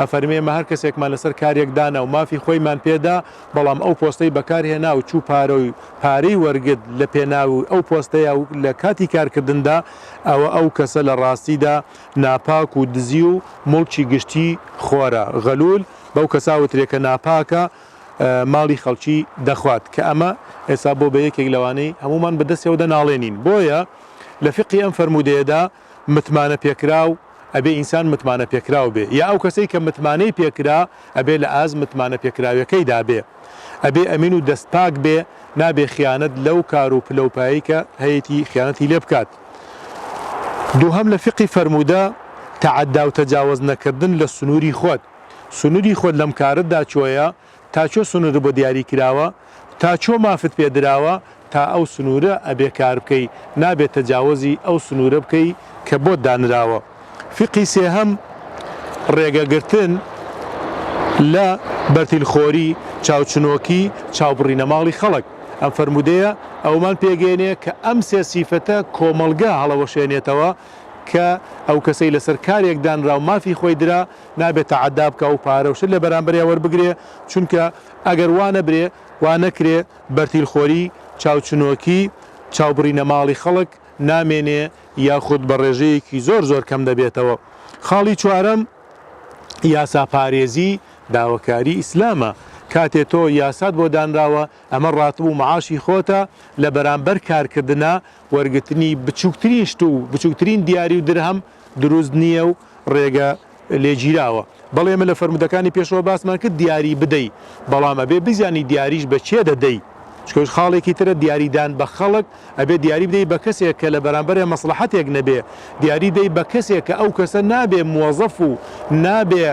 ئەفەرمێ ئێمە هەر کەسێکمان لەسەر کارێک دانا و مافی خۆیمان پێ دا، بەڵام ئەو پۆستەی بەکار هێنا و چوو پارە و پارەی وەرگرت لە پێناوی ئەو پۆستەیا و لە کاتی کارکردندا، ئەوە ئەو کەسە لە ڕاستیدا ناپاک و دزی و موڵکی گشتی خۆرە، غلول، بەو کەسە ئەوترێ کە ناپاکە ماڵی خەڵکی دەخوات، کە ئەمە ئێستا بۆ بە یەکێک لەوانەی هەموومان بە دەستیەوە دەناڵێنین، بۆیە لە فیقهی ئەم فەرموودەیەدا، متمانە پێکراو ئەبێ ئینسان متمانە پێکراو بێ یا ئەو کەسەی کە متمانەی پێکرا ئەبێ لە ئاست متمانە پێکراوێکەی دا بێ ئەبێ ئەمین و دەست پاک بێ نابێ خیانەت لەو کار و پلە و پایەی کە هەیەتی خیانەتی لێ بکات دووهەم لە فیقی فەرموودە تەعەددا و تەجاوەز نەکردن لە سنووری خۆت سنووری خۆت لەم کارەت دا چۆیە تا چۆ سنورت بۆ دیاری کراوە تا چۆ مافت پێ دراوە تا ئەو سنورە ئەبێ کار بکەی نابێ تەجاوەزی ئەو سنورە بکەی کە بۆت دانراوە فیقهی سێهەم ڕێگە گرتن لە بەرتیل خۆری چاو چنۆکی چاو بڕینە ماڵی خەڵک ئەم فەرموودەیە ئەوەمان پێگەیەنێ کە ئەم سێ سیفەتە کۆمەڵگا هەڵەوەشێنێتەوە کە ئەو کەسەی لەسەر کارێک دانراو مافی خۆی درا نابێ تەعەدا بکا و پارە و شت لە بەرامبەریا وەربگرێ، چونکە ئەگەر وا نەبرێ، وا نەکرێ، بەرتیلخۆری، چاوچنۆکی، چاوبڕینە ماڵی خەڵک، نامێنێ یاخود بە ڕێژەیەکی زۆر زۆر کەم دەبێتەوە. خاڵی چوارەم، یاساپارێزی، داوەکاری ئیسلامە. کاتێ تۆ یاسات بۆ دانراوە، ئەمە ڕاتب و معاشی خۆتە، لە بەرامبەر کارکردنا، وەرگرتنی بچووکترین شت و بچووکترین دیاری و درهەم، دروست نییە و ڕێگە لێگیراوە. بەڵی ئێمە لە فەرموودەکانی پێشەوە باسمان کرد دیاری بدەی، بەڵام ئەبێ بزانی دیاریش بە کێ دەدەی، چونکە ئەوش خاڵێکی ترە دیاری دان بە خەڵک، ئەبێ دیاری بدەی بە کەسێک کە لە بەرامبەرێ مەسڵەحەتێک نەبێ، دیاری دەی بە کەسێک کە ئەو کەسە نابێ موەزەف و نابێ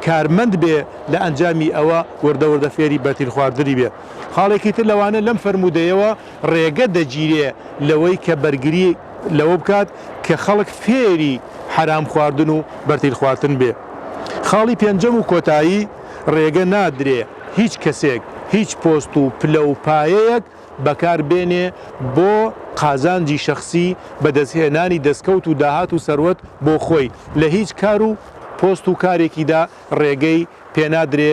کارمەند بێ لە ئەنجامی ئەوە وردە وردە فێری بەرتیل خواردنی بێ. خاڵێکی تر لەوانە لەم فەرموودەیەوە ڕێگە دەگیرێ لەوەی کە بەرگری. لەوە بکات کە خەڵک فێری حەرام خواردن و بەرتیل خواردن بێ. خاڵی پێنجەم و کۆتایی، ڕێگە نادرێ هیچ کەسێک هیچ پۆست و پلە و پایەیەک بەکار بێنێ بۆ قازانجی شەخسی بەدەست هێنانی دەستکەوت و داهات و سەروەت بۆ خۆی لە هیچ کار و پۆست و کارێکیدا ڕێگەی پێنادرێ